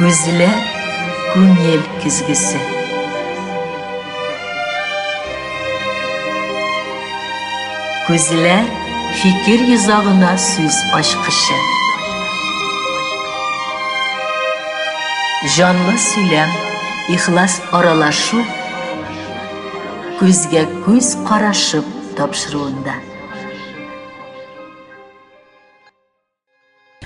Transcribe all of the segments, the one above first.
Күзләр күңел көзгесе. Күзләр фикер йозагына сүз ачкычы. Җанлы сөйләм, ихлас аралашу күзгә күз карашып тапшыруында.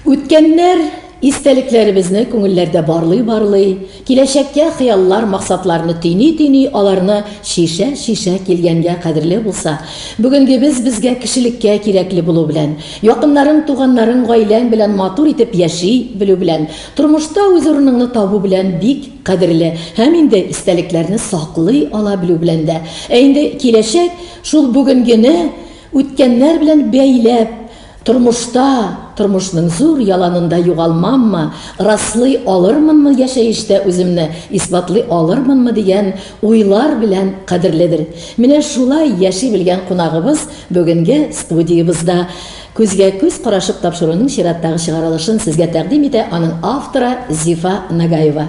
Үткәннәр истәлекләребезне күңелләрдә барлый-барлый, киләчәккә хыяллар, максатларны төйни-төйни, аларны чишә-чишә килгәнгә кадерле булса, бүгенгебез безгә кешелеккә кирәкле булу белән, якыннарың, туганнарың, гаиләң белән матур итеп яши белү белән, тормышта үз урыныңны табу белән бик кадерле һәм инде истәлекләрне саклый ала белү белән дә. Ә инде киләчәк, шул бүгенгене үткәннәр белән бәйләп, Тормышта, тормышның зур яланында югалмаммы, раслый алырмынмы яшәештә үземне, исбатлый алырмынмы дигән уйлар белән кадерледер. Менә шулай яши белгән кунагыбыз бүгенге студиябызда. Күзгә-күз карашып тапшыруның чираттагы чыгарылышын сезгә тәкъдим итә аның авторы Зифа Нагаева.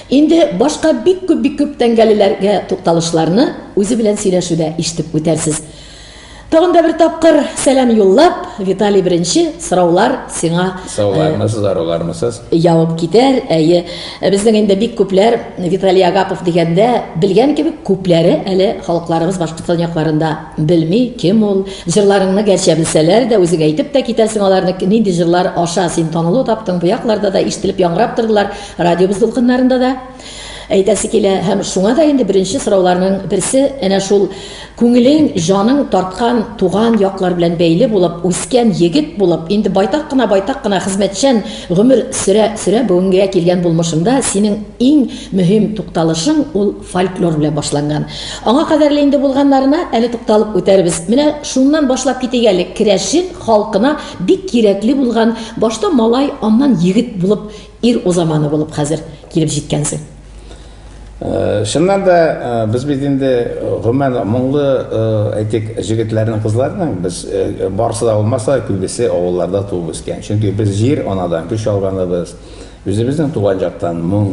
Инде башка бик күп, бик күп тәңгәлеләргә тукталышларны үзе белән сөйләшүдә ишетеп үтәрсез. Тагын да бер тапкыр сәлам юллап, Виталий беренче сораулар сиңа Саулармысыз, арулармысыз? Явып китәр. Әйе, безнең инде бик күпләр Виталий Агапов дигәндә белгән кебек, күпләре әле халыкларыбыз Башкортстан якларында белми, кем ул. Җырларыңны гәрчә белсәләр дә, үзең әйтеп тә китәсең аларны, нинди җырлар аша син танылу таптың, бу якларда да ишетелеп яңгырап тордылар. Радиобыз дулкыннарында да әйтәсе килә һәм шуңа да инде беренче сорауларның берсе әнә шул күңелең, җаның тарткан туган яклар белән бәйле булып үскән егет булып, инде байтак кына байтак кына хезмәтчән гомер сөрә сөрә бүгенгә килгән булмышында синең иң мөһим тукталышың ул фольклор белән башланган. Аңа кадәрле инде булганнарына әле тукталып үтәрбез. Менә шуннан башлап китик әле. Керәшен халкына бик кирәкле булган, башта малай, аннан егет булып Ир узаманы булып хәзер килеп җиткәнсең. Э, чыннан да э, без бит инде э, гомумән моңлы әйтик җегетләрнең кызларның без барысы да булмаса күбесе авылларда туып үскән чөнки без җир анадан көч алганыбыз үзебезнең туган жактан моң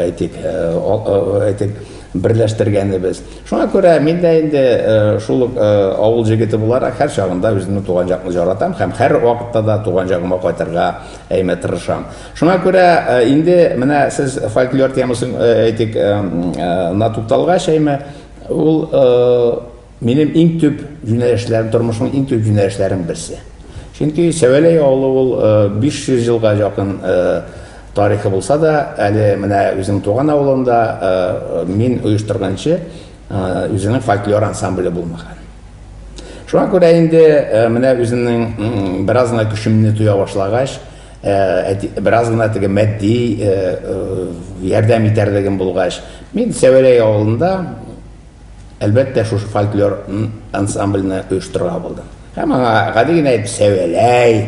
әйтик әйтик берләштергәнебез шуңа күрә мин дә инде шул ук авыл җегете буларак һәр чагында үземнең туган җакны жаратам һәм һәр вакытта да туган җагыма кайтырга Әйме, тырышам. Шуңа күрә инде менә сез фольклор темасын әйтик, на тукталгач, әйме, ул минем иң төп юнәлешләрем, тормышның иң төп юнәлешләрем берсе. Чөнки Сәвәләй авылы ул 500 елга якын тарихы булса да, әле менә үзем туган авылында мин оештырганчы, Үзенең фольклор ансамбле булмаган. Шуңа күрә инде менә үземнең бераз гына көчемне тоя башлагач, бераз гына теге матди ярдәм итәрлегем булгач, мин Сәвәрәй авылында әлбәттә шушы фольклор ансамбльне оештырырга булдым. Һәм аңа гади генә итеп Сәвәләй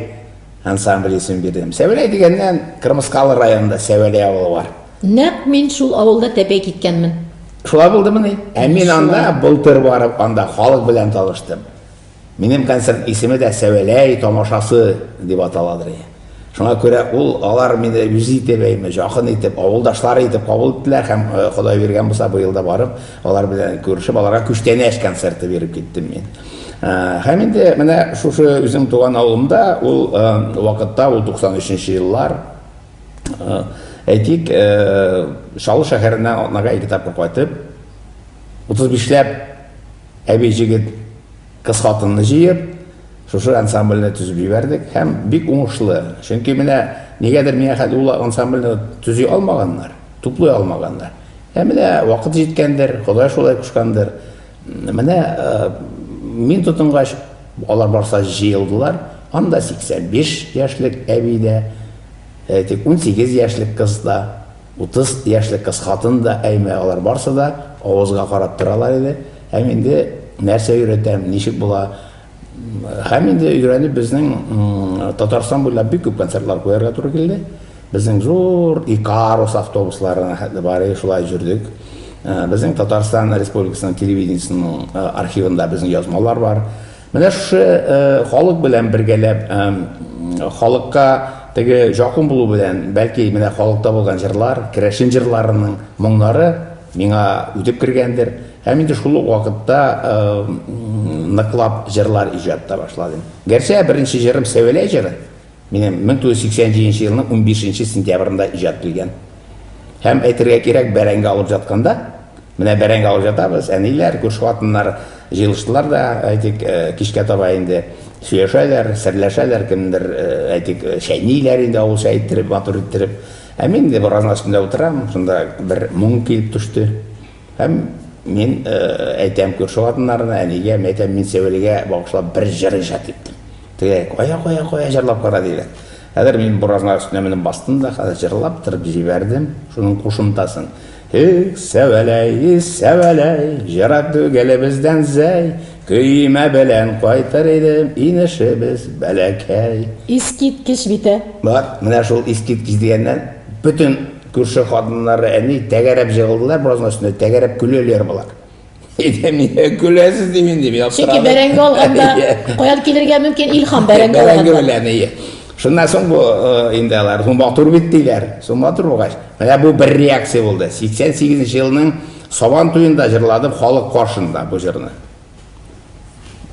ансамбль исемен бирдем. Сәвәләй дигәннән, Кырмыскалы районында Сәвәләй авылы бар. Нәкъ мин шул авылда тәпәй киткәнмен. Шулай булдымыни? Ә мин анда былтыр барып, анда халык белән таныштым. Минем концерт исеме дә Сәвәләй тамашасы дип аталадыр. Шуңа күрә ул алар мине үз итеп, әйме, якын итеп, авылдашлары итеп кабул иттеләр һәм э, Ходай биргән булса, быел да барып, алар белән күрешеп, аларга күчтәнәч концерты биреп киттем мин. Э, һәм инде менә шушы үзем туган авылымда ул э, вакытта ул 93 еллар Әйтик, Чаллы шәһәренә атнага ике тапкыр кайтып, 35ләп әби җигет кыз хатынны җыеп, шушы ансамбльне төзеп җибәрдек һәм бик уңышлы. Чөнки менә нигәдер миңа хәтле ул ансамбльне төзи алмаганнар, туплый алмаганнар. Ә менә вакыт җиткәндер, Ходай шулай кушкандыр. Менә мин тотынгач, алар барса җыелдылар. Анда 85 яшьлек әби дә, әйтик, 18 яшьлек кыз да, 30 яшьлек кыз хатын да, әйме, алар барсы да авызга карап торалар иде. Һәм инде нәрсә өйрәтәм, ничек була? Һәм инде өйрәнеп безнең Татарстан буйлап бик күп концертлар куярга туры килде. Безнең зур Икарус автобусларына хәтле барыйк шулай җөрдек. Безнең Татарстан Республикасының телевидениесенең архивында безнең язмалар бар. Менә шушы халык белән бергәләп, халыкка теге җакын булу белән, бәлки, менә халыкта булган җырлар, керәшен җырларының моңнары миңа үтеп кергәндер. Һәм инде шул ук вакытта ныклап җырлар иҗат та башладым. Гәрчә беренче җырым Сәвәләй җыры. Минем 1987 нче елның унбиш нче сентябрендә иҗат килгән. Һәм, әйтергә кирәк, бәрәңге алып җатканда, менә бәрәңге алып җатабыз, әниләр, күрше хатыннар җыелыштылар да, әйтик, кичкә таба инде сөйләшәләр, серләшәләр, кемдер, әйтик, чәйниләр инде авыл чәе иттереп, матур иттереп. Ә мин инде буразна өстендә утырам, шунда бер моң килеп төште. Һәм мин әйтәм күрше хатыннарына, әнигә, мин әйтәм, мин Сәвелгә багышлап бер җыр иҗат иттем. Тегеләр, кая, кая, кая җырлап кара диләр. Хәзер мин буразна өстенә менеп бастым да, хәзер җырлап торып җибәрдем, шуның кушымтасын. Эх, Сәвәләй, Сәвәләй, җыра түгел бездән зәй, көймә белән кайтыр идем, инешебез бәләкәй. Искиткеч бит, ә? Бар, менә шул искиткеч дигәннән бөтен Күрше хатыннары, әни, тәгәрәп җыгылдылар беразның өстенә, тәгәрәп көләләр болар. Әйдә, миңа көләсез ди мин, дип яптыра. Чөнки бәрәңге алганда, каян килергә мөмкин илһам бәрәңге алганда. Бәрәңге белән, ие. Шуннан соң бу э, инде алар, соң матур бит диләр. Соң матур булгач, менә бу бер реакция булды. 88 елның Сабан туенда җырладым халык каршында бу җырны.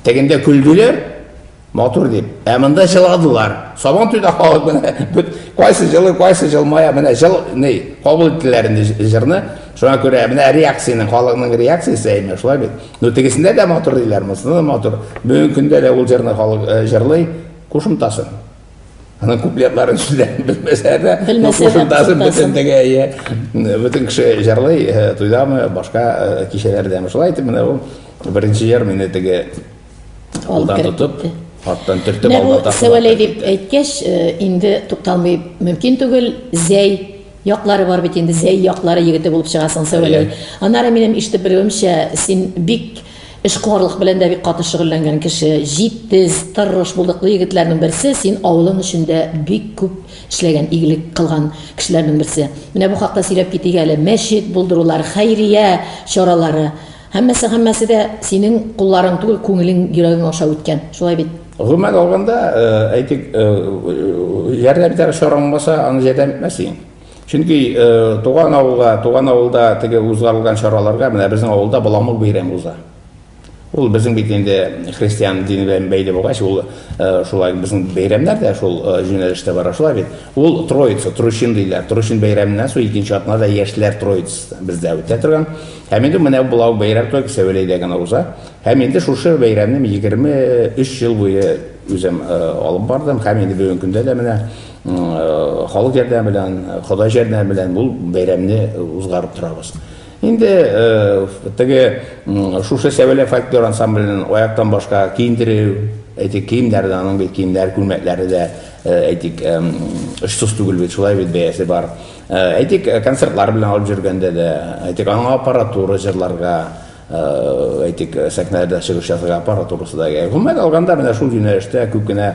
Тегендә көлделәр, Матур дип. Ә монда җыладылар. Сабан туйда халык менә бит кайсы җылы, кайсы җылмая, менә җыл ни кабул иттеләр инде җырны. Шуңа күрә менә реакцияне, халыкның реакциясе әйме, шулай бит. Ну тегесендә дә матур диләр, монысында да матур. Бүгенге көндә дә ул җырны халык э, җырлый, кушымтасын. Аның куплетларын сүзләрен белмәсә дә, ну кушымтасын бөтендеге, иә. Бөтен кеше җырлый, э, туйдамы, башка э, кичәләрдәме. Шулай итеп менә ул беренче җыр мине теге Алдан тотып, арттан төртеп алда Сәвәләй дип әйткәч, э, инде тукталмый мөмкин түгел. Зәй яклары бар бит инде, зәй яклары егете булып чыгасың Сәвәләй. Аннары минем ишетеп белүемчә, син бик эшкуарлык белән дә бик каты шөгыльләнгән кеше, җитез, тырыш булдыклы егетләрнең берсе, син авылың өчен дә бик күп эшләгән, игелек кылган кешеләрнең берсе. Менә бу хакта сөйләп китик әле. Мәчет булдырулар, хәйрия чаралары. Һәммәсе һәммәсе дә синең кулларың түгел, күңелең, йөрәгең аша үткән. Шулай бит? Гомумән алганда, э, әйтик, э, ярдәм итәр чараң булмаса, аны ярдәм итмәсең. Чөнки э, туган авылга, туган авылда теге узгарылган чараларга менә безнең авылда Баламык бәйрәме уза. Ул безнең бит инде христиан дине белән бәйле булгач, ул шулай безнең бәйрәмнәр дә шул юнәлештә бара шулай бит. Ул Троица, Тручин диләр. Тручин бәйрәменнән соң икенче атнада яшьләр Троицасы бездә үтә торган. Һәм инде менә бу лау бәйрәм только Сәвәләйдә генә уза. Һәм инде шушы бәйрәмне мин 23 ел буе үзем алып бардым. Һәм инде бүгенге көндә дә менә халык ярдәме белән, Ходай җәрдәме белән бу бәйрәмне узгарып торабыз. Инде теге шушы Сәвәлә фольклор ансамбленең аяктан башка киендерү, әйтик, киемнәрдә аның бит киемнәр, күлмәкләре дә, әйтик, очсыз түгел бит, шулай бит бәясе бар. Э, әйтик э, концертлар белән алып жүргәндә дә әйтик аңа аппаратура җырларга э, әйтик сәхнәдә чыгыш ясарга аппаратурасы да кирәк гомумән алганда менә шул юнәлештә күп кенә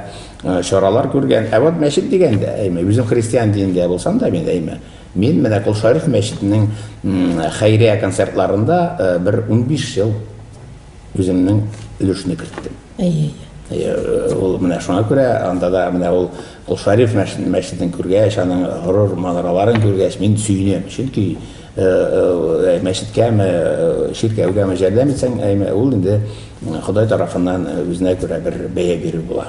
чаралар күргән ә вот мәчет дигәндә әйме үзем христиан динендә булсам да мин әйме мин менә кол шариф мәчетенең хәйрия концертларында бер унбиш ел Үземнең өлешне керттем. Әйе. Ул менә шуңа күрә анда да менә ул Кулшариф мәчетен күргәч, аның горур манараларын күргәч, мин сөенәм. Чөнки э, э, мәчеткәме, э, чиркәүгәме жәрдәм итсәң, ул инде Ходай тарафыннан үзенә күрә бер бәя бирү була.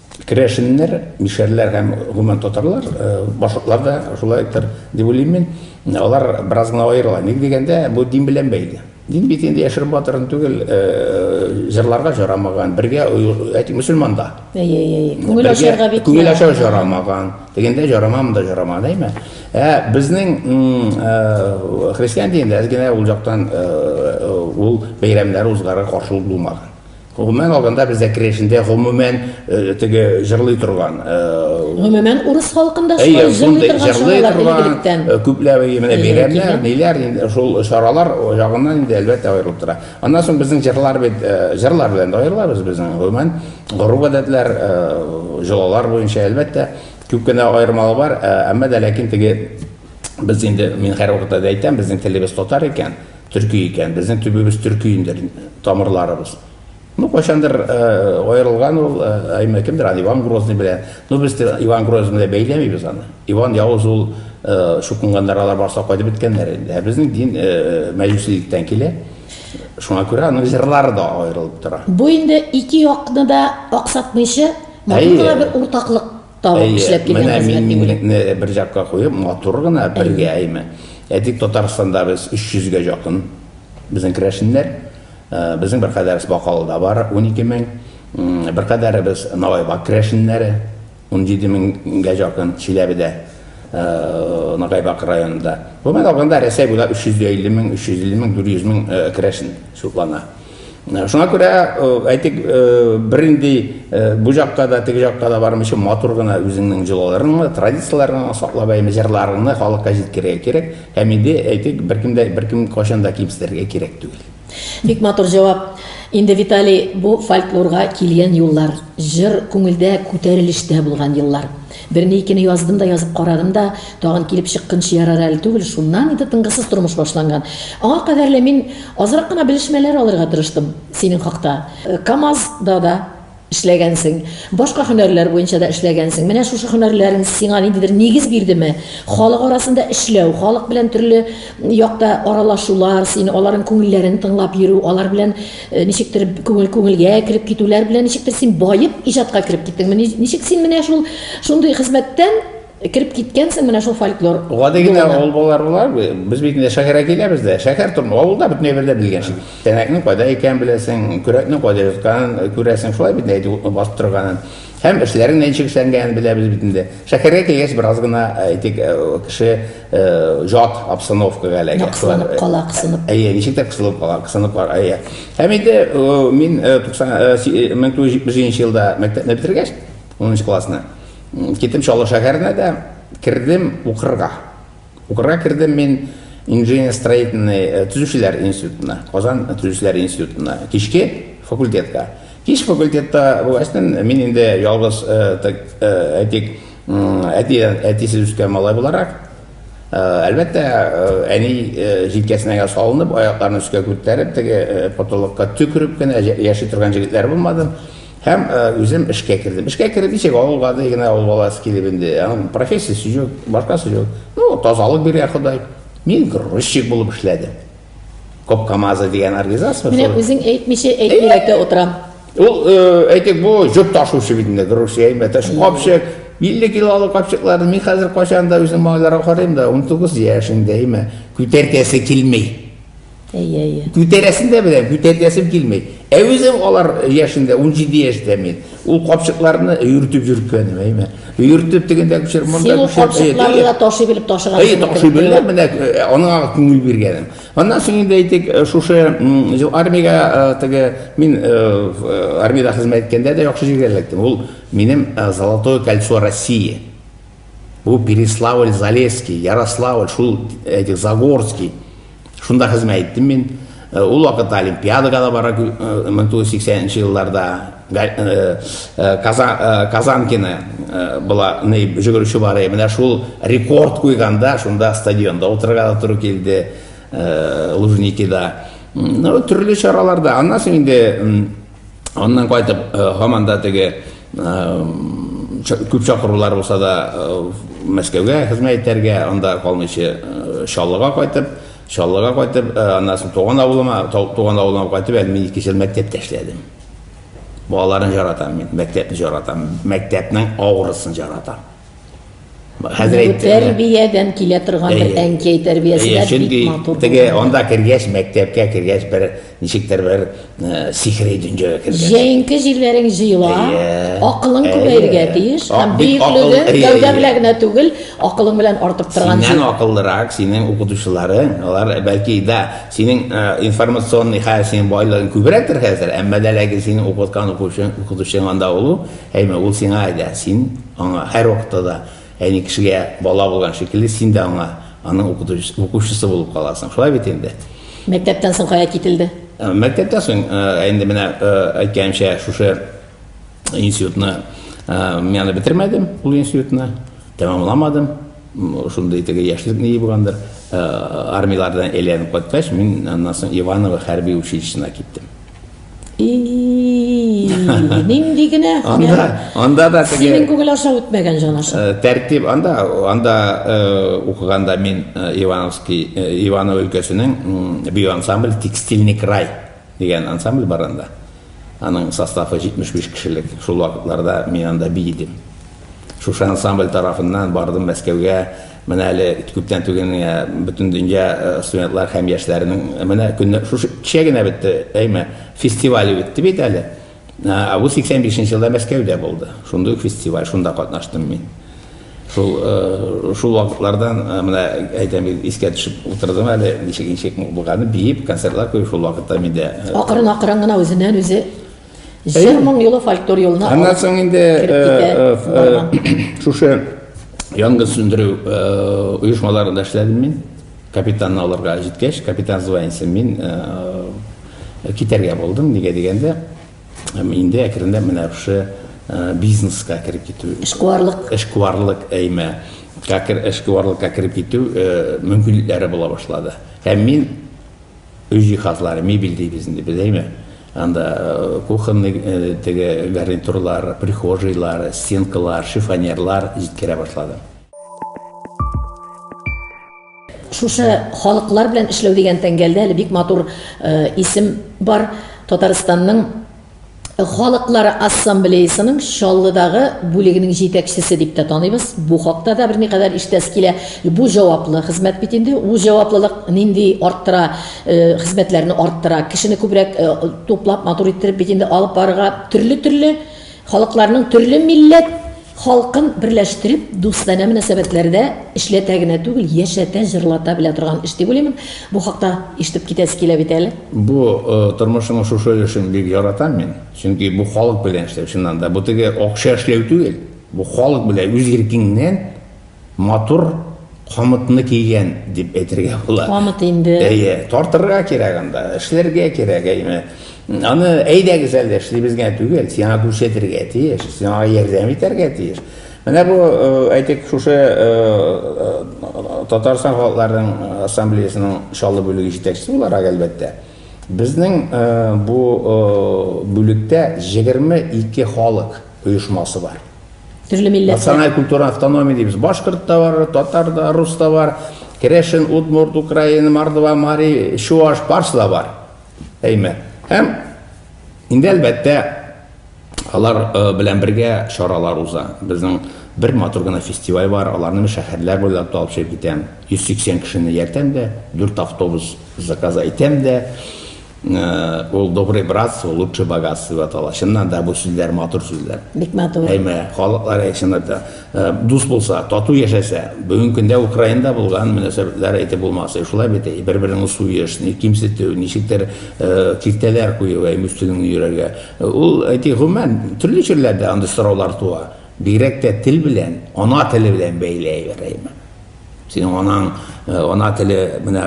Керәшеннәр, мишәрләр һәм, гомумән, татарлар, башкортлар да шулайдыр, дип уйлыйм мин. Алар бераз гына аерыла. Ник дигәндә, бу дин белән бәйле. Дин бит инде яшереп батырын түгел, җырларга җарамаган, бергә әйтик, мөселман да. Әйе, әйе, әйе. Күңел ачарга бит. Күңел ачарга җарамаган. Дигәндә җарамаган, монда җарамаган, әйме? Ә безнең христиан динендә әз генә ул яктан ул бәйрәмнәр узгарга каршылык булмаган. Гомумән алганда бездә керәшендә гомумән теге җырлый торган Гомумән урыс халкында шулай җырлый торган чаралар элегректән. Күпләп менә бәйрәмнәр, ниләр инде шул чаралар ягыннан инде әлбәттә аерылып тора. Аннан соң безнең җырлар бит җырлар белән дә аерылабыз безнең гомумән гореф-гадәтләр, җолалар буенча әлбәттә күп кенә аермалык бар, әмма дә ләкин теге без инде мин һәрвакытта да әйтәм, безнең телебез татар икән, Төрки икән. Безнең төбебез төрки инде, тамырларыбыз. Ну, кайчандыр аерылган ул, әмма кемдер аны Иван Грозный белән. Ну, без Иван Грозный белән бәйләмибез аны. Иван Явыз ул чукынганнар, алар барса кайтып беткәннәр инде. Ә безнең дин мәҗүсилектән килә. Шуңа күрә аның җырлары да аерылып тора. Бу инде ике якны да аксатмыйча, моңда да бер уртаклык. Табып эшләп килгән хезмәт. Менә мин миңлекне бер якка куеп, матур гына бергә әйме. Әйтик, Татарстанда без 300 гә якын безнең керәшеннәр. Э, безнең бер кадәребез Бакалыда бар, 12 мең. Бер кадәребез Нагайбак керәшеннәре, 17 меңгә якын Чиләбедә, э, Нагайбак районында. Гомумән алганда Рәсәй буйлап 350 мең, 350 мең, 400 мең э, керәшен шутлана. Шуңа күрә әйтик, бер инде бу җакка да, теге җакка да бармыйча матур гына үзеңнең җолаларыңны, традицияләреңне саклап әйме җырларыңны халыкка җиткерергә кирәк. Һәм инде әйтик, беркемдә беркем кайчан да кимсетергә кирәк түгел. Бик матур җавап. Инде Виталий, бу фольклорга килгән юллар, җыр күңелдә күтәрелештә булган еллар. Берне-икене яздым да язып карадым да, тагын килеп чыккынчы ярар әле түгел, шуннан инде тынгысыз тормыш башланган. Аңа кадәр лә мин азрак кына белешмәләр алырга тырыштым синең хакта. КАМАЗ да да эшләгәнсең, башка һөнәрләр буенча да эшләгәнсең. Менә шушы һөнәрләрең сиңа ниндидер нигез бирдеме? Халык арасында эшләү, халык белән төрле якта аралашулар, син аларның күңелләрен тыңлап йөрү, алар белән Э, ничектер күңел күңелгә кереп китүләр белән ничектер син баеп иҗатка кереп киттеңме ничек син менә шул шундый хезмәттән кереп киткәнсең менә шул фольклор гади генә авыл балалары була без бит инде шәһәргә киләбез дә шәһәр тормы авылда бөтенләй бер дә белгән шул тәнәкнең кайда икәнен беләсең көрәкнең кайда ятканын э, күрәсең шулай бит әйтү басып торганын һәм эшләрен ничек эшләнгәнен беләбез бит инде шәһәргә килгәч бераз гына э, әйтик кеше Э, жат обстановкага эләгә. Кысылып кала, кысылып. Әйе, ничек тә кысылып кала, кысылып кала, әйе. Һәм инде э, мин 1977 э, елда мәктәпне бетергәч, 10 классны, киттем Чаллы шәһәренә дә, кердем укырга. Укырга кердем мин инженер-строительный төзүчеләр институтына, Казан төзүчеләр институтына, кичке факультетка. Кич факультетта булгачтын, мин инде ялгыз, әйтик, Әти, әтисез үскән малай буларак, әлбәттә, әни җилкәсенә салынып, аякларын өскә күтәреп, теге потолокка төкереп кенә яши торган җегетләр булмадым. Һәм үзем эшкә кердем. Эшкә кереп исәк авыл гади генә авыл баласы килеп инде. Аның профессиясе юк, башкасы юк. Ну, тазалык биргән Ходай. Мин грузчик булып эшләдем. Коп Камазы дигән организация бар. Менә үзең әйтмичә әйтмиләккә утырам. Ул э, әйтик бу җөк ташучы бит инде, Грузия әйбәт. Ә шул капчык 50 килолык капчыкларны мин хәзер кайчан да үзем малайларга карыйм да 19 яшь инде, әйме. Күтәркәсе килми. Әйе, әйе. Күтәрәсен дә беләм, күтәркәсем килми. Ә үзем алар яшендә 17 яшьтә мин. Ул капчыкларны өйртеп йөрткәнем, әйме. Өйртеп дигәндә күчер, монда Син ул күчер. капчыкларны да ташый белеп ташыган. Әй, ташый белә, менә э, аңа күңел биргәнем. Аннан соң инде әйтик, э, шушы армиягә э, теге мин армиядә хезмәт иткәндә дә яхшы җиргә эләктем. Ул минем Золотое кольцо России. Бу Переславль, Залесский, Ярославль, шул әйтик Загорский Шунда хезмәт иттем мин. Э, ул вакытта олимпиадага да бара 1980 э, елларда э, казанкина была жүгерүче бар еді менә шул рекорд куйганда шунда стадионда отырырга да туры килде лужникида ну төрле чараларда аннан соң инде Аннан кайтып, э, һаман да теге күп чакырулар булса да Мәскәүгә хезмәт итәргә, анда калмыйча Чаллыга кайтып, Чаллыга кайтып, аннан соң туган авылыма, туган авылыма кайтып, әле мин 2 ел мәктәптә эшләдем. Балаларын жаратам мин, мәктәпне жаратам, мәктәпнең авырысын жаратам. Хәзер әйт. Тәрбиядән килә торган бер әнкәй тәрбиясендә бик матур. Теге анда кергәч, мәктәпкә кергәч бер ничектер бер сихри дөньяга кергән. Җәенке җилләрең җыела, акылың күбәергә тиеш. Һәм бөеклеге гәүдә белән генә түгел, акылың белән артып торган җил. Синнән акыллырак, синең укытучыларың, алар бәлки дә синең информационный хәл синең байлыгың күбрәктер хәзер, әмма дә ләкин синең укыткан укучың, укытучың анда ул, әйме ул сиңа әйдә, син Аңа һәрвакытта да әни кешегә бала булган шикелле, син дә аңа аның укытучысы, укучысы булып каласың. Шулай бит инде. Мәктәптән соң кая кителде? Мәктәптән соң, инде менә әйткәнемчә, шушы институтны мин аны бетермәдем, ул институтны тәмамламадым. Шундый теге яшьлек ни булгандыр. Армияләрдән әйләнеп кайткач, мин аннан соң Иваново хәрби училищесына киттем. Нинди генә? Анда, анда да теге... Синең күңел аша үтмәгән җан аша. Э, тәртип анда, анда э, укыганда мин э, Ивановский, Иванов өлкәсенең бию ансамбль Текстильный край дигән ансамбль бар анда. Аның составы 75 кешелек. Шул вакытларда мин анда би идем. Шушы ансамбль тарафыннан бардым Мәскәүгә, Менә әле күптән түгел генә Бөтендөнья студентлар һәм яшьләренең менә көне шушы кичә генә бетте, әйме, фестивале үтте бит әле. Ә бу 85 нче елда Мәскәүдә булды. Шундый ук фестиваль, шунда катнаштым мин. Шул шул вакытлардан менә әйтәм бит, искә төшеп утырдым әле, ничек ничек булганы, биеп, концертлар куеп шул вакытта миндә. Акрын-акрын гына үзеннән-үзе Җыр моң юлы фольклор юлына Аннан соң инде шушы янгын сүндерү оешмаларында эшләдем мин. Капитанны алырга җиткәч, капитан званиесе мин китәргә булдым. Нигә дигәндә, инде әкренләп менә шушы бизнеска кереп китү. Эшкуарлык. Эшкуарлык әйме. Кәкер эшкуарлыкка кереп китү мөмкинлекләре була башлады. Һәм мин Өй җиһазлары, мебель дибез инде без, әйме? Анда кухонный теге гарнитурлар, прихожийлар, стенкалар, шифоньерлар җиткерә башладым. Шушы халыклар белән эшләү дигән тәңгәлдә әле бик матур исем бар. Татарстанның. халыклары ассамблеясының Чаллыдагы бүлегенең җитәкчесе дип тә таныйбыз. Бу хакта да берникадәр ишетәсе килә. Бу җаваплы хезмәт бит инде. Ул җаваплылык нинди арттыра, э, хезмәтләрне арттыра. Кешене күбрәк э, туплап, матур иттереп бит инде алып барырга төрле-төрле халыкларның төрле милләт Халкын берләштереп, дустанә мөнәсәбәтләрдә эшләтә генә түгел, яшәтә, җырлата белә торган эш дип уйлыймын. Бу хакта ишетеп китәсе килә бит әле. Бу тормышның шушы өлешен бик яратам мин. Чөнки бу халык белән эшләү, чыннан да. Бу теге акча эшләү түгел. Бу халык белән үз иркеңнән. Матур камытны кигән дип әйтергә була. Камыт инде. Әйе, тартырга кирәк анда, эшләргә кирәк, әйме. Аны әйдәгез әле эшлибез генә түгел, сиңа күрсәтергә тиеш, сиңа ярдәм итәргә тиеш. Менә бу, э, әйтик, шушы э, э, Татарстан халыкларының ассамблеясының Чаллы бүлеге җитәкчесе буларак, әлбәттә, безнең бу бүлектә 22 халык оешмасы бар. Төрле милләт. Националь культура автономия дибез. Башкорт та бар, татар да, рус та бар, керәшен, удмурт, украин, мордва, мари, чуаш, барсы да бар. Әйме. Һәм инде әлбәттә алар э, белән бергә чаралар уза. Безнең бер матур гына фестиваль бар, аларны шәһәрләр буйлап та алып чыгып китәм. 180 кешене яртәм дә, 4 автобус заказ итәм дә. Ул добрый братство, лучший богатство дип атала. Чыннан да бу сүзләр матур сүзләр. Бик матур. Әйме, халыклар әйтсеннәр дә, э, дус булса, тату яшәсә, бүгенге көндә Украинада булган мөнәсәбәтләр әйтеп булмас. Э, шулай бит, э, бер-береңне суеш, ни кимсетү, ничектер э, киртәләр кую әйме өстенең йөрергә. Э, ул әйти гомумән төрле чирләрдә андый сораулар туа. Бигрәк тә тел белән, ана теле белән бәйле әйбер әйме. Синең анаң, э, ана теле менә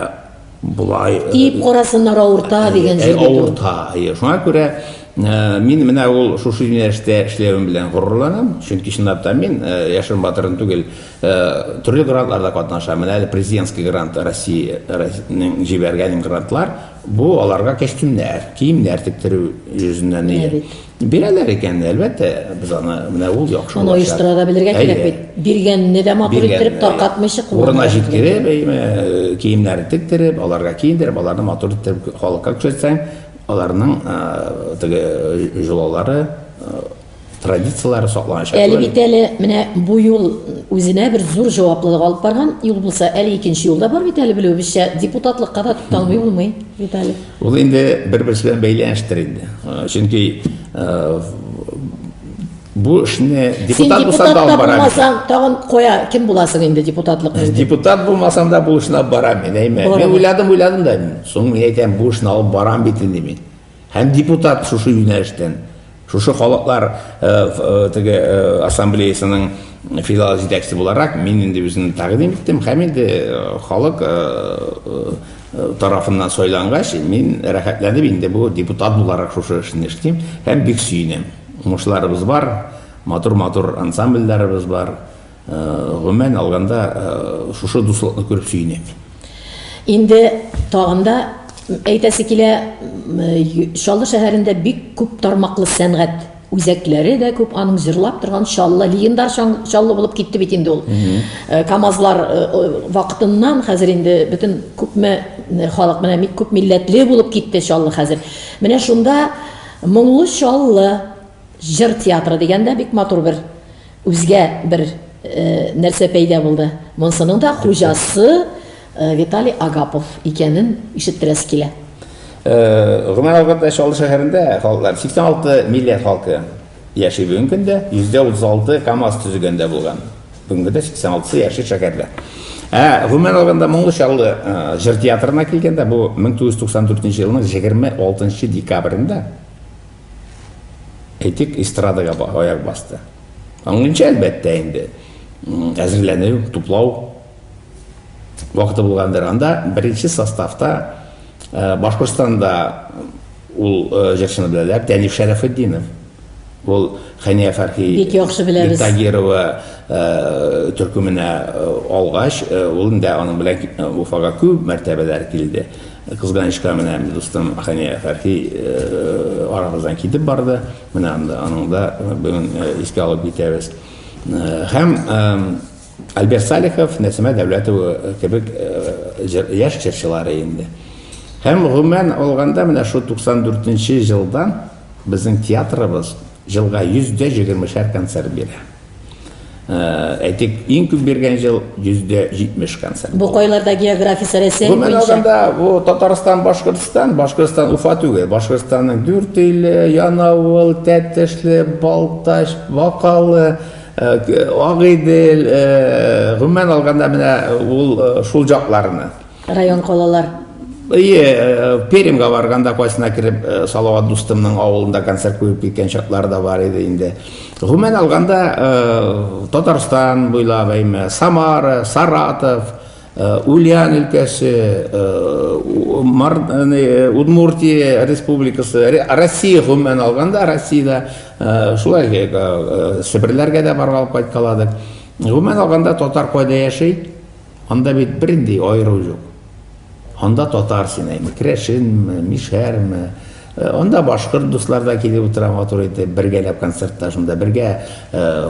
болай э, Диеп карасыннар авырта э, дигән җирдә. Авырта. Шуңа күрә мин менә ул шушы юнәлештә эшләвем белән горурланам, чөнки чынлап та мин яшерен батырын түгел, төрле грантларда катнашам. Менә әле президентский грант Россиянең җибәргән грантлар, Бу аларга кәстүмнәр, киемнәр тектерү йөзеннән Менә бит. Бирәләр икән, әлбәттә, без аны менә ул яхшы Аны булачак. оештыра да белергә кирәк бит. Биргәнне дә матур Биргән, иттереп, таркатмыйча э, Урына кулланырга кирәк. җиткереп, әйме, э, киемнәрен тектереп, аларга киендереп, аларны матур иттереп халыкка күрсәтсәң, аларның э, теге э, җолалары э, традицияләре сакланачак. Әле бит әле менә бу юл үзенә бер зур җаваплылык алып барган юл булса, әле икенче юл да бар бит әле белүебезчә, депутатлыкка да тукталмый булмый бит әле. Ул инде бер-берсе белән бәйләнештер инде. Э, чөнки э, бу эшне депутат булсаң да алып барам. Син тагын куя, кем буласың инде депутатлык? Э, депутат булмасам да бу эшне алып барам. Мин әйме. Мин уйладым, уйладым да. Соң мин әйтәм, бу эшне алып барам бит инде мин. Һәм депутат шушы юнәлештән, шушы халыклар теге ассамблеясының филиал җитәкчесе буларак, мин инде үземне тәкъдим иттем һәм инде халык тарафыннан сайлангач, мин рәхәтләнеп инде бу депутат буларак шушы эшне эшлим һәм бик сөенәм. Уңышларыбыз бар, матур-матур ансамбльләребез бар. Гомумән алганда, шушы дуслыкны күреп сөенәк. Инде тагын да әйтәсе килә, Чаллы шәһәрендә бик күп тармаклы сәнгать үзәкләре дә күп, аның җырлап торган Чаллы, легендар Чаллы булып китте бит инде ул. КАМАЗлар вакытыннан хәзер инде бөтен күпме халык менә бик күп милләтле булып китте Чаллы хәзер. Менә шунда Моңлы Чаллы җыр театры дигәндә бик матур бер Үзгә бер нәрсә пәйда булды. Монсының да хуҗасы Виталий Агапов икәнен ишеттерәсе килә. Гомәр алганда Чаллы шәһәрендә халыклар 86 милләт халкы яши бүгенге көндә, йөздә 36 КАМАЗ төзегәндә булган. Бүгенге көндә 86 яши шәһәрдә. Ә гомумән алганда Моңлы Чаллы җыр театрына килгәндә, бу 1994 елның 26 декабрендә әйтик, эстрадага аяк басты. Аңлыймча, әлбәттә, инде әзерләнү, туплау вакыты булгандыр. Анда беренче составта э, Башкортстанда ул э, җырчыны беләләр, Дәниф Шәрәфетдинов. Ул Хәния Фәрхи бик яхшы беләбез. Тагирова э, төркеменә алгач, ул инде аның белән Уфага күп мәртәбәләр килде. Кызганычка, менә дустым Хания Фәрхи арабыздан китеп барды. Менә анда аның да бүген искә алып китәбез. Һәм Альберт Салихов, Нәсимә Дәүләтова кебек яшь җырчылары инде. Һәм гомумән алганда, менә шул 94 нче елдан Безнең театрыбыз җылга йөз дә җегермешәр концерт бирә. Әйтик, иң күп биргән җыл йөз дә җитмеш концерт. Бу кайларда географиясе Рәсәй буенча? Гомумән алганда, бу Татарстан, Башкортстан, Башкортстан Уфа түгел, Башкортстанның Дүртөйле, Янавыл, Тәтешле, Балтач, Бакалы, Агыйдел, гомумән алганда, менә ул шул җакларны. Район калалар. Әйе, Пермьга барганда кайсына кереп, Салават дустымның авылында концерт куеп киткән чаклар да бар иде инде. Гомумән алганда, Татарстан буйлап, әйме, Самара, Саратов, Ульян өлкәсе, Удмуртия республикасы, Россия гомумән алганда, Россиядә шулай Себерләргә дә баргалап кайткаладык. Гомумән алганда, татар кайда яши? Анда бит бернди аеру юк. Анда татар син әйме, керәшенме, мишәрме, Анда башкорт дуслар да килеп утыра матур итеп, бергәләп концертта шунда бергә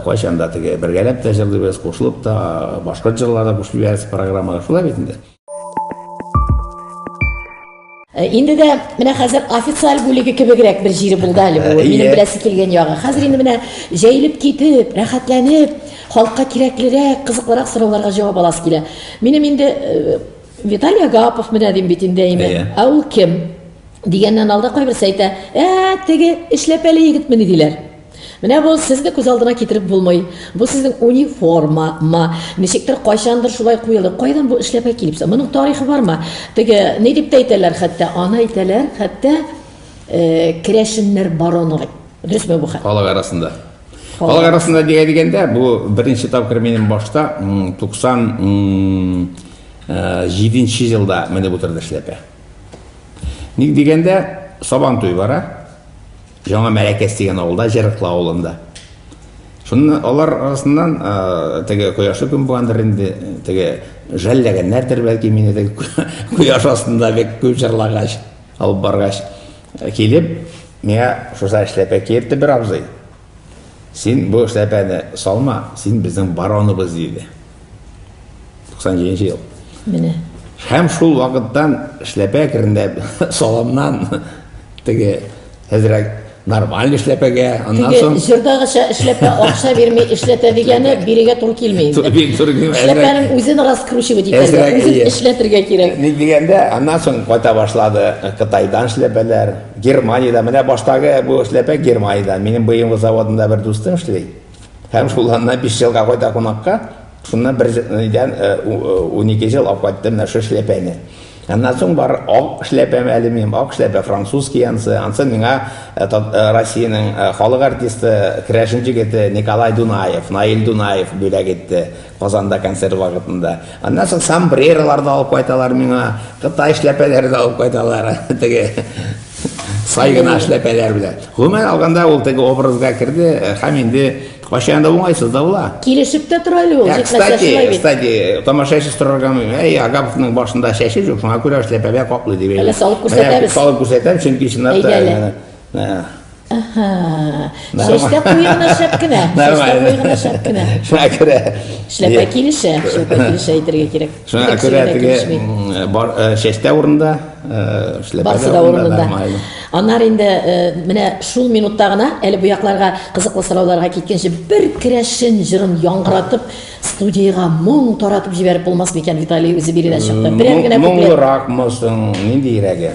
кайчан да теге бергәләп тә җырлыйбыз, кушылып та башкорт җырлары да кушып җибәрәбез программага. Шулай бит инде. Э, инде дә менә хәзер официаль бүлеге кебегрәк бер җире булды әле бу. Э, Минем беләсе килгән ягы. Хәзер инде менә җәелеп китеп, рәхәтләнеп, халыкка кирәклерәк, кызыклырак сорауларга җавап аласы килә. Минем инде э, Виталий Агапов менә дим бит инде әйме. Ә ул кем? Дигәннән алда кайберсе әйтә, ә теге эшләпәле егетмени диләр. Менә бу сезне күз алдына китереп булмый. Бу сезнең униформа ма? Ничектер кайчандыр шулай куелып, кайдан бу эшләпә килеп чыкты? Моның тарихы бармы? Теге ни дип тә әйтәләр хәтта, аны әйтәләр, хәтта э, керәшеннәр бароны. Дөресме бу хәл? Халык арасында. Халык арасында дигә дигәндә, бу беренче тапкыр минем башта 97 э, елда менеп утырды эшләпә. Ник дигәндә, сабан туй бара. Яңа Мәләкәс дигән авылда, Җырыклы авылында. Шуннан алар арасыннан теге кояшлы көн булгандыр инде, теге жәлләгәннәрдер бәлки мине теге кояш астында бик күп җырлагач, алып баргач килеп, миңа шуса эшләпә киертте бер абзый. Син бу эшләпәне салма, син безнең бароныбыз диде. 97 ел. Менә. Һәм шул вакыттан эшләпә керендә саламнан теге хәзрәк нормаль эшләпәгә, аннан соң... Теге җырдагыча эшләпә акча бирми эшләтә дигәне бирегә туры килми инде. Туры килми. Эшләпәнең үзен раскручивать итәргә, үзен эшләтергә кирәк. Ник дигәндә, аннан соң кайта башлады Кытайдан эшләпәләр, Германиядә. Менә баштагы бу эшләпә Германиядә. Минем БМВ заводында бер дустым эшли. Һәм шул анна биш елга кайта кунакка, шуннан бер идән унике ел алып кайттым менә шул эшләпәне. Аннан соң бар ак эшләпәм әле минем, ак эшләпә французский ансы. Ансы миңа Россиянең халык артисты, керәшен җегете Николай Дунаев, Наил Дунаев бүләк итте. Казанда концерт вакытында. Аннан соң сомбреролар да алып кайталар миңа, кытай эшләпәләре дә алып кайталар. Теге сай гына эшләпәләр белән. Гомумән алганда ул теге образга керде һәм инде кайчан да уңайсыз да була. Килешеп тә тора әле ул, Ә, җитмәсә шулай кстати, бит. кстати, тамашачы сорарга мөмкин. Әй, Агаповның башында чәче юк, шуңа күрә эшләпәгә каплый дип. Әле салып күрсәтәбез. Менә Салып күрсәтәм, чөнки чынлап та. Әйдә әле. менә, ә, Әһә. Чәчтә куе гына шәп кенә. Чәчтә куе гына шәп кенә. Шуңа күрә. Эшләпә килешә, эшләпә килешә әйтергә кирәк. Шуңа күрә теге бар чәчтә урында, эшләпә. Барсы да урында. Аннары инде менә шул минутта гына әле бу якларга кызыклы сорауларга киткәнче бер керәшен җырын яңгыратып студиягә моң таратып җибәреп булмас микән Виталий үзе биредә чыкты. Берәр генә куплет. Моңлыракмы соң, ниндиерәге?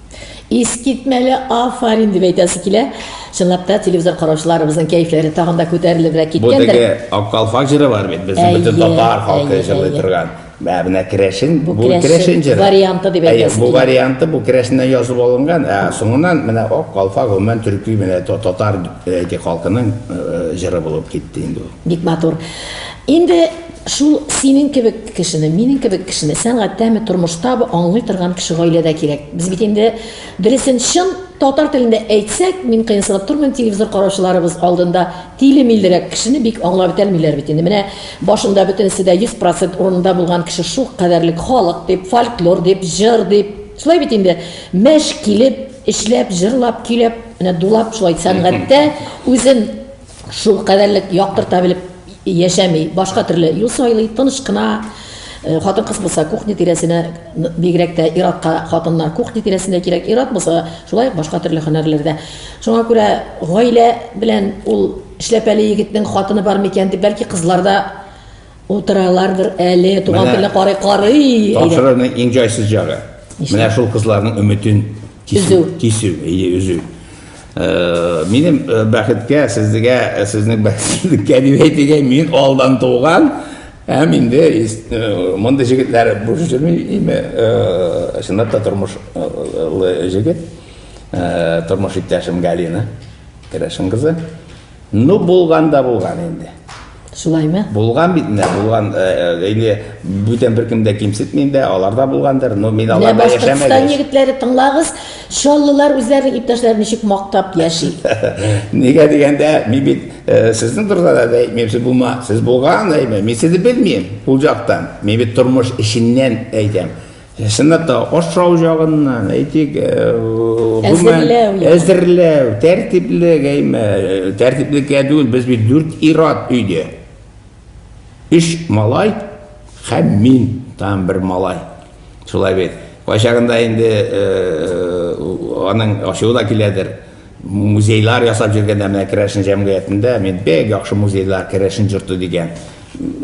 Искитмәле афарин дип әйтәсе килә. Чынлап та телевизор караучыларыбызның кәефләре тагын да күтәрелебрәк Бу киткәндер. теге Аккал фаҗиры бар бит, безнең Әйе, бөтен татар халкы әйе, җырлый әйе. торган. Мә, менә керәшен, бу керәшен керәшен җыры. варианты дип Әйе, әйтәсе бу килә. варианты, бу керәшеннән язып алынган, ә соңыннан менә Ак калфа гомумән төрки менә та- татар әйтик халкының э, җыры булып китте инде ул. Бик матур. Инде Шул синең кебек кешене, минең кебек кешене, сәнгатьтәме, тормыштабы аңлый торган кеше гаиләдә кирәк. Без бит инде дөресен чын татар телендә әйтсәк, мин кыенсынып тормыйм, телевизор караучыларыбыз алдында тиле-милерәк кешене бик аңлап бетәлмиләр бит инде. Менә башында бөтенесе дә 100% урынында булган кеше шул кадәрлек халык дип, фольклор дип, җыр дип. Шулай бит инде. Мәш килеп, эшләп, җырлап, көйләп, менә дулап шулай сәнгатьтә үзен шул кадәрлек яктырта белеп яшәми, башка төрле юл сайлый, тыныч кына э, хатын кыз булса кухня тирәсенә бигрәк тә иратка хатыннар кухня тирәсенә кирәк ират булса шулай ук башка төрле һөнәрләрдә шуңа күрә гаилә белән ул эшләпәле егетнең хатыны бар микән дип бәлки кызлар да утыралардыр әле туган телне карый карый тапшыруның иң җайсыз җагы менә шул кызларның өметен Кисү. Кисү, әйе, өзү. Э, минем э, бәхеткә, сезгә, э, сезнең бәхетсезлеккә дип әйтергә, мин алдан туган, һәм инде мондый җегетләр буш йөрми, име, чынлап та тормышлы җегет, тормыш иптәшем Галина Керәшин кызы. Ну, булган да булган инде. Шулаймы? Булган бит менә, булган э, э, инде бүтән беркем дә кимсетми инде, алар да булгандыр. Но мин Менә аларда Башкортстан яшәмәдем. егетләре тыңлагыз, чаллылар үзләренең иптәшләрен ничек мактап яши. Нигә дигәндә, мин бит э, сезнең турыда да әйтмим, сез булма, сез булган әйтмим. Мин сезне белмим ул жактан. Мин бит тормыш эченнән әйтәм. Чынлап та ашау җагыннан, әйтик, әзерләү, әзерләү, тәртиплек, әйме, тәртиплеккә түгел, без бит дүрт ират өйдә. Өч малай һәм мин там бер малай. Шулай бит. Кайчагында инде аның ачуы да киләдер. Музейлар ясап йөргәндә менә Керәшен җәмгыятендә мин бик яхшы музейлар Керәшен җорты дигән.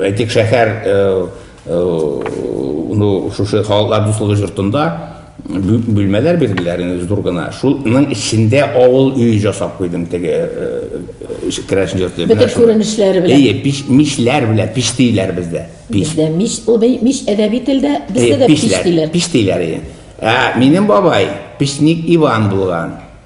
Әйтик, шәһәр ну шушы халыклар дуслыгы жортында бүлмәләр бирделәр инде зур гына шуның эчендә авыл өй жасап куйдым теге керәшен йорты бөтен күренешләре белән әйе пич мичләр белән пич диләр бездә бездә мич ул мич әдәби телдә бездә дә пич диләр пич диләр ә минем бабай печник иван булган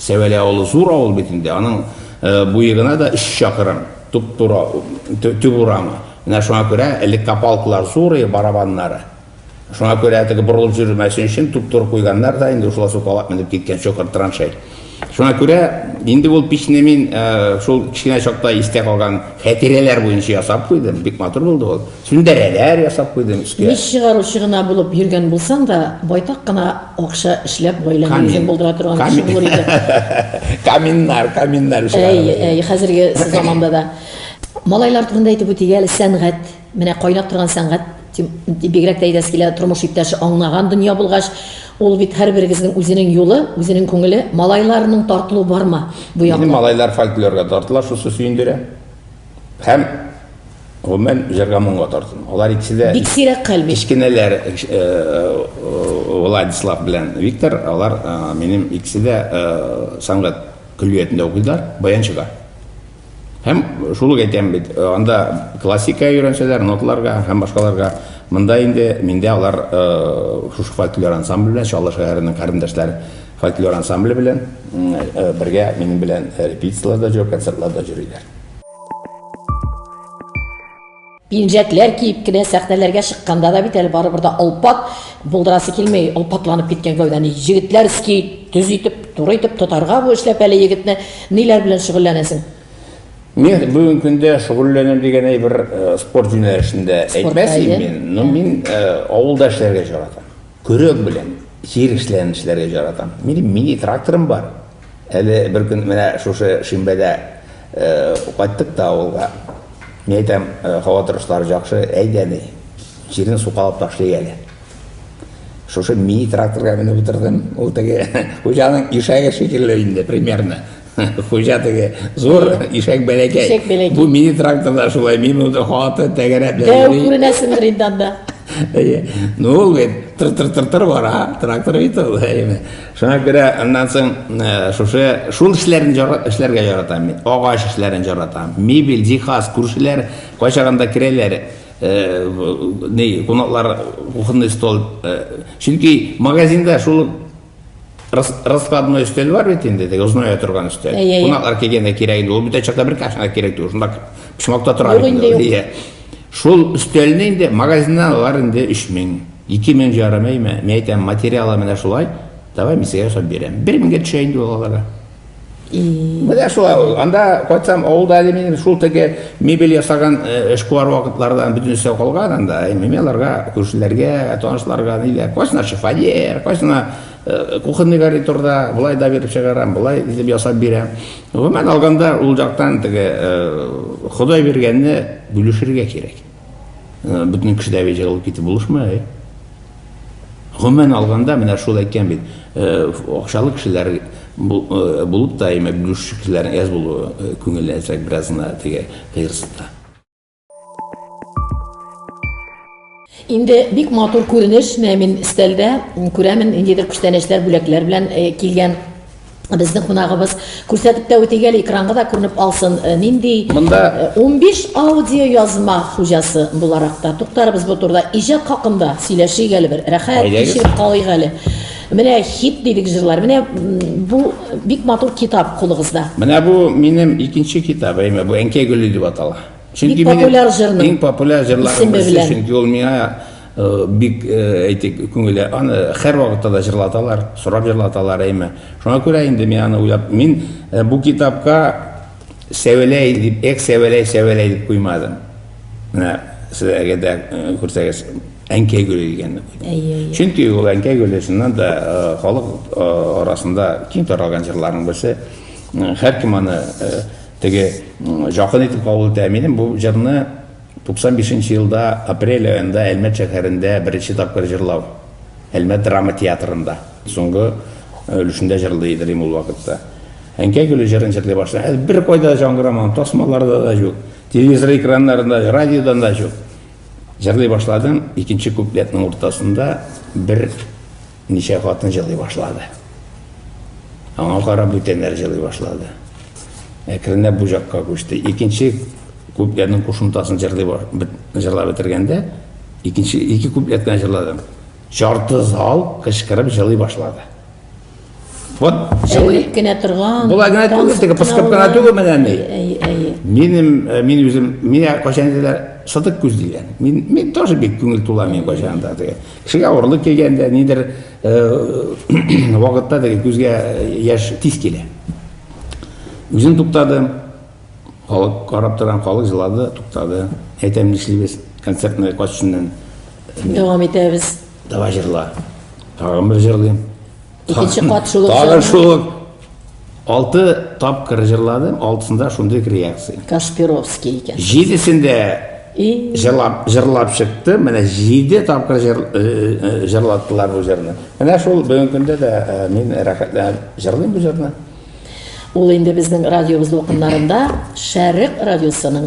Сәвәлә авылы зур авыл бит инде, аның буе гына да өч чакрым, туп-туры төп урамы. Менә шуңа күрә элек копалкалар зур иде, барабаннары. Шуңа күрә теге борылып йөрмәсен өчен туп-туры куйганнар да, инде шулай сукалап менеп киткән чокыр траншей. Шуңа күрә инде ул пичне мин шул кечкенә чакта истә калган хәтирәләр буенча ясап куйдым. Бик матур булды ул. Сүндерәләр ясап куйдым өскә. Мич чыгаручы гына булып йөргән булсаң да, байтак кына акча эшләп гаиләңне үзең булдыра торган кеше булыр идең. Каминнар, каминнар эшләп. Әй, әй, хәзерге заманда да. Малайлар турында әйтеп үтик әле, сәнгать, менә кайнап торган сәнгать, дип бигрәк тә әйтәсе килә, тормыш иптәше аңнаган дөнья булгач, ул бит һәрберегезнең үзенең юлы, үзенең күңеле. Малайларның тартылуы бармы бу якта? Минем малайлар фольклорга тартыла, шусы сөендерә. Һәм Гомумән, җырга моңга тартым. Алар икесе дә Бик сирәк хәл бит. Кечкенәләр э, э, Владислав белән Виктор, алар э, минем икесе дә э, сәнгать көллиятендә укыйлар, баянчыда. Һәм шул ук әйтәм бит, э, анда классика өйрәнсәләр, ноталарга һәм башкаларга, монда инде миндә алар э, шушы фольклор ансамбле белән, Чаллы шәһәренең карендашлар фольклор ансамбле белән м, э, бергә минем белән репетицияләрдә җөреп, концертларда җөриләр. пинжәкләр киеп кенә сәхнәләргә чыкканда да бит әле барыбер дә олпат булдырасы килми олпатланып киткән гәүдәне егетләр ски төз итеп туры итеп тотарга бу эшләп әле егетне ниләр белән шөгыльләнәсең Мин бүгін күндә шөгыльләнәм дигән әйбер э, спорт юнәлешендә әйтмәсем мин, но мин э, авылда эшләргә яратам. Көрәк белән җир эшләрен эшләргә яратам. Минем мини тракторым бар. Әле бер көн менә шушы шимбәдә кайттык та авылга. Мин әйтәм, һава торышлары җакшы, әйдә ни, җирне сукалап ташлыйк әле. Шушы мини тракторга менеп утырдым, ул теге хуҗаның ишәге шикелле инде примерно. Хуҗа теге зур, ишәк бәләкәй. Бу мини тракторда шулай, мин монда хаты тәгәрәп йөри. Дәү күренәсеңдер инде анда. Ну ул бит тыр-тыр-тыр-тыр бара, трактор бит ул. Шуңа күрә аннан соң э, шушы шул эшләрне эшләргә яратам мин. Агач эшләрен яратам. Мебель, җиһаз, күршеләр кайчагында керәләр. Э, ни, кунаклар кухонный стол. Э, чөнки магазинда шул раскладной өстәл бар бит инде, теге озная торган өстәл. Кунаклар килгәндә кирәк инде. Ул бит чакта бер кашына кирәк түгел. Шунда почмакта тора инде. Шул өстәлне инде магазиннан алар инде өч мең, ике мең җарамыймы? Мин әйтәм, материалы менә шулай, давай мин сезгә ясап бирәм. Бер меңгә төшә инде ул аларга. Менә шулай ул. Анда кайтсам, авылда әле минем шул теге мебель ясаган э, эшкуар вакытлардан бөтен өстәл калган анда. Мин аларга, күршеләргә, танышларга ниләр. Кайсына шифоньер, кайсына э, кухонный гарнитурда, былай да биреп чыгарам, былай итеп ясап бирәм. Гомумән алганда, ул жактан теге Ходай биргәнне бүлешергә кирәк. Бөтен кеше дә җыелып китеп булышмый. Гомумән алганда, менә шул әйткән бит, акчалы кешеләр булып та, әмма бүлешү кешеләр әз булуы күңелле әзрәк беразына теге кыерсытта. Инде бик матур күренеш, менә мин стәлдә күрәмен, ниндидер күчтәнәчләр, бүләкләр белән э, килгән безнең кунагыбыз күрсәтеп тә үтик әле экранга да күренеп алсын э, нинди монда 15 э, аудио язма хуҗасы буларак та туктарыбыз бу турыда иҗат хакында сөйләшик әле бер рәхәт кичереп калыйк әле менә хит дидек җырлар менә бу бик матур китап кулыгызда менә бу минем икенче китабым бу әнкәй гөле дип атала Чөнки бик популяр җырның иң популяр җырларның берсе, чөнки ул миңа э, бик э, әйтик күңеле аны һәр вакытта да җырлаталар, сорап җырлаталар әйме. Шуңа күрә инде мин аны уйлап, мин э, бу китапка сәвәләй дип, эк сәвәләй сәвәләй дип куймадым. Менә сезгә дә күрсәгез, әнкәй гөле дигәнне куйдым. Чөнки ул әнкәй гөле чыннан да халык арасында киң таралган җырларның берсе. Һәркем аны Теге якын итеп кабул итә. Минем бу җырны 95 нче елда апрель аенда Әлмәт шәһәрендә беренче тапкыр җырлау, Әлмәт драма театрында, соңгы өлешендә җырлый идем ул вакытта. Әнкәй гөле җырын җырлый башлый. Хәзер беркайда да җангырамаган, тасмаларда да юк, телевизор экраннарында, радиодан да юк. Җырлый башладым, икенче куплетның уртасында бер Ничә хатын җылый башлады. Аңа карап бүтәннәр җылый башлады. Әкренләп бу җакка күчте. Икенче куплетның кушымтасын җырлый җырлап бетергәндә, икенче ике куплет кенә җырладым. Ярты зал кычкырып җылый башлады. Вот җылый. Кенә торган. Була генә түгел, теге пыскып кына түгел менә ни. Минем э, мин үзем, мин кайчан диләр, сытык күз дигән. Мин мин тоже бик күңел тула мин кайчан да. Кешегә авырлык килгәндә, нидер вакытта теге күзгә яшь тиз килә. Үзен туктады, халык карап торган, халык җылады, туктады. Әйтәм, нишлибез, концертны качышыннан дәвам итәбез. Давай җырла. Тагын бер җырлыйм. Икенче кат шул ук Тагын җырны. шул ук алты тапкыр җырладым, алтысында шундый ук реакция. Кашпировский икән. Җидесендә И, җырлап, җырлап чыкты, менә җиде тапкыр җыр, э, э, җырлаттылар бу җырны. Менә шул бүгенге көндә дә э, мин рәхәтләнеп җырлыйм бу җырны. Ул инде безнең радиобыз дулкыннарында Шәрык радиосының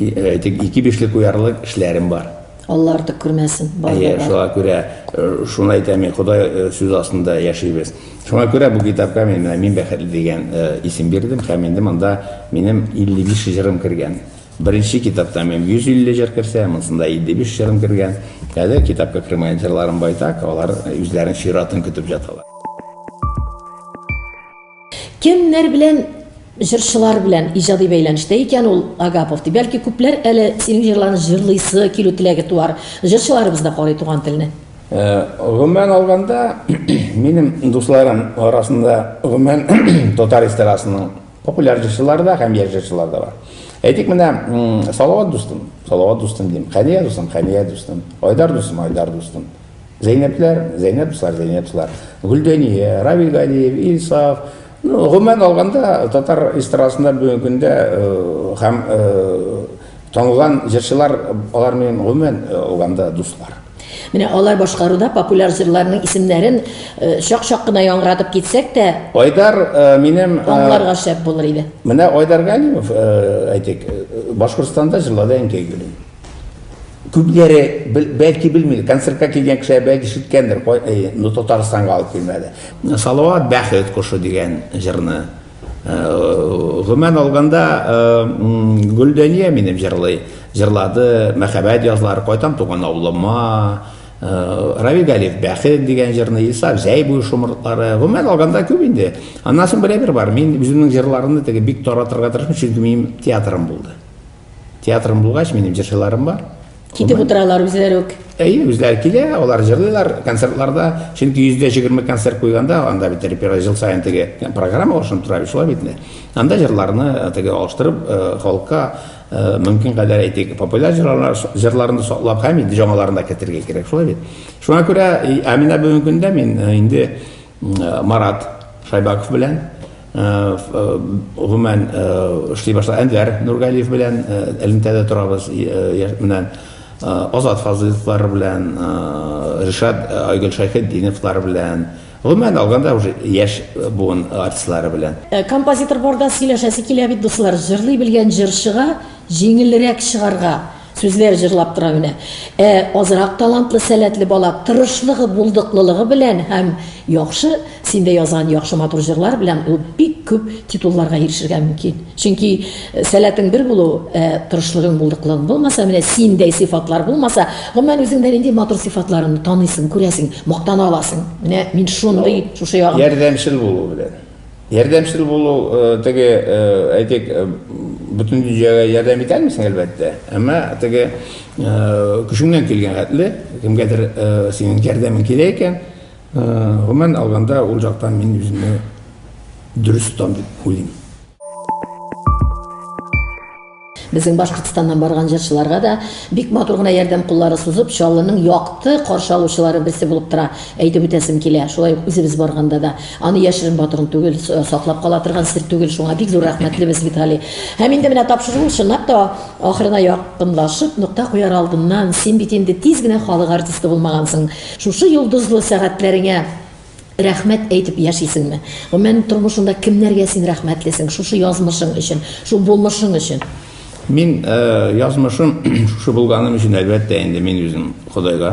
Әйтик, ике бишле куярлык эшләрем бар. Алла артык күрмәсен. Әйе, шуңа күрә э, шуны әйтәм мин, Ходай э, сүз астында яшибез. Шуңа күрә бу китапка мин менә мин бәхетле дигән э, исем бирдем һәм инде монда минем 55 җырым кергән. Беренче китапта мин 150 җыр керсә, монсында 55 җырым кергән. Әле китапка кергән җырларым байтак, алар үзләренең чиратын көтеп яталар. Кемнәр белән җырчылар белән иҗади бәйләнештә икән ул Агапов ди. Бәлки күпләр әле синең җырларны җырлыйсы килү теләге туар. Җырчыларыбыз да карый туган телне. Э, гомумән алганда, минем дусларым арасында гомумән татар эстрадасының популяр җырчылары да һәм яшь җырчылар да бар. Әйтик менә Салават дустым, Салават дустым дим, Хәния дустым, Хәния дустым, Айдар дустым, Айдар дустым. Зәйнәпләр, Зәйнәпслар, Зәйнәпслар, Гөлдәния, Равил Галиев, Илсаф, ну, гомумән алганда, татар эстрадасында бүгенге көндә һәм танылган җырчылар алар минем гомумән алганда дуслар. Менә алар башкаруда популяр җырларның исемнәрен чак-чак кына яңгыратып китсәк тә, Айдар минем аңларга шәп булыр иде. Менә Айдар Галимов, әйтик, Башкортстанда җырлады әнкәй гөлем. Күпләре, бәлки, белмидер, концертка килгән кешеләр, бәлки, ишеткәндер, ну, Татарстанга алып килмәде. Салават бәхет кошы дигән җырны. Гомумән алганда, Гөлдәния минем җырлый, җырлады, мәхәббәт язлары, кайтам туган авылыма, Равил Галиев бәхет дигән җырны, Илсаф җәй буе шомыртлары. Гомумән алганда, күп инде. Аннан соң берәйбер бар. Мин үземнең җырларымны теге бик таратырга тырышмыйм, чөнки минем театрым булды. Театрым булгач, минем җырчыларым бар. Китеп утыралар үзләре үк. Әйе, үзләре килә, алар җырлыйлар концертларда. Чөнки 120 концерт куйганда, анда бит репертуар ел саен теге программа алышынып тора, шулай бит инде. Анда җырларны э, теге алыштырып, э, халыкка э, мөмкин кадәр әйтик, популяр җырлар, җырларны саклап һәм инде яңаларын да кертергә кирәк, шулай бит. Шуңа күрә, ә менә бүгенге көндә мин инде Марат Шайбаков белән гомумән эшли башлады. Әнвәр Нургалиев белән элемтәдә торабыз. Менә Азат Фазыловлар белән, Ришат Айгөл Шайхетдиновлар белән, гомумән алганда уже яшь буын артистлары белән. Композитор барда сөйләшәсе килә бит, дуслар. Җырлый белгән җырчыга җиңелрәк чыгарга. Сүзләр җырлап тора генә. Ә азрак талантлы, сәләтле бала тырышлыгы, булдыклылыгы белән һәм яхшы, син дә язган яхшы матур җырлар белән ул бик күп титулларга ирешергә мөмкин. Чөнки сәләтең бер булу, ә тырышлыгың, булдыклылыгың булмаса, менә синдәй сыйфатлар булмаса, гомумән үзеңдә нинди матур сыйфатларыңны таныйсың, күрәсең, мактана аласың. Менә мин шундый шушы ягын. Ярдәмчел булу белән. Ярдәмчел булу, теге, әйтик, бөтен дөньяга ярдәм итә алмыйсың, әлбәттә. Әмма теге көчеңнән килгән хәтле, кемгәдер синең ярдәмең кирәк икән, гомумән алганда, ул яктан мин үземне дөрес тотам дип уйлыйм. Безнең Башкортстаннан барган җырчыларга да бик матур гына ярдәм куллары сузып, Чаллының якты каршы алучылары берсе булып тора, әйтеп үтәсем килә. Шулай ук үзебез барганда да. Аны яшерен батырын түгел, саклап кала торган сер түгел, шуңа бик зур рәхмәтлебез бит Гали. Һәм инде менә тапшыру чынлап та ахырына якынлашып, нокта куяр алдыннан, син бит инде тиз генә халык артисты булмагансың. Шушы йолдызлы сәгатьләреңә Рәхмәт әйтеп яшисеңме? Гомумән, тормышыңда кемнәргә син рәхмәтлесең шушы язмышың өчен, шул булмышың өчен? Мин язмышым шушы булганым өчен, әлбәттә, инде мин үзем Ходайга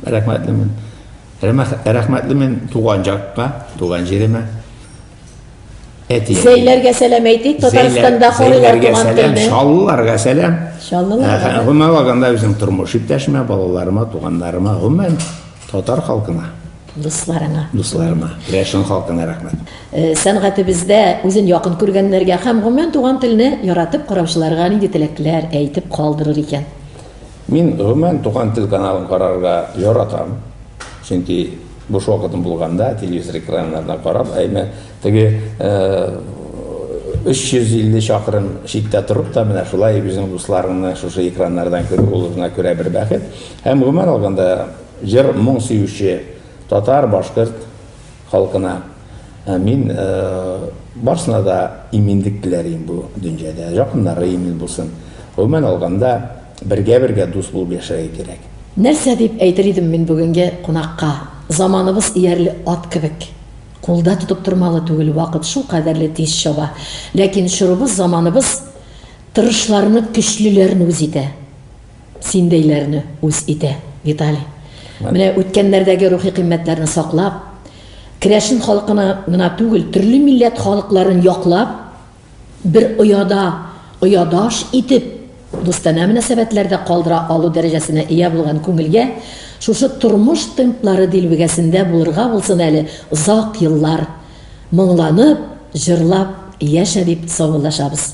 рәхмәтлемен. Рәхмәтлемен туган җакка, туган җиремә. Әти. Зәйләргә сәлам әйтик, Татарстанда халыйлар туган телне. Шаллыларга сәлам. Шаллыларга. Гомумән алганда үзем тормыш иптәшемә, балаларыма, туганнарыма, гомумән Татар халкына. Дусларыңа. Дусларыма. Рәшен халкына рәхмәт. Э, сәнгатебездә үзен якын күргәннәргә һәм гомумән туган телне яратып караучыларга нинди теләкләр әйтеп калдырыр икән? Мин гомумән туган тел каналын карарга яратам. Чөнки буш вакытым булганда телевизор экраннарына карап, әйме теге 350 э, чакрым читтә торып та менә шулай үзең дусларыңны шушы экраннардан күрү ул гына күрә бер бәхет. Һәм гомумән алганда, җыр, моң сөюче татар, башкорт халкына мин барсына да иминлек теләрим бу дөнҗәдә, якыннары имин булсын. Гомумән алганда, бергә-бергә дус булып яшәргә кирәк. Нәрсә дип әйтер идем мин бүгенге кунакка? Заманыбыз иярле ат кебек. Кулда тотып тормалы түгел, вакыт шулкадәрле тиз чаба. Ләкин чорыбыз, заманыбыз тырышларны, көчлеләрне үз итә. Синдәйләрне үз итә, Виталий. Менә үткәннәрдәге рухи кыйммәтләрне саклап, керәшен халкына гына түгел, төрле милләт халыкларын яклап, бер ояда, оядаш итеп, дустанә мөнәсәбәтләрдә калдыра алу дәрәҗәсенә ия булган күңелгә шушы тормыш темплары дилбегәсендә булырга булсын әле озак еллар, моңланып, җырлап яшә, дип саубуллашабыз.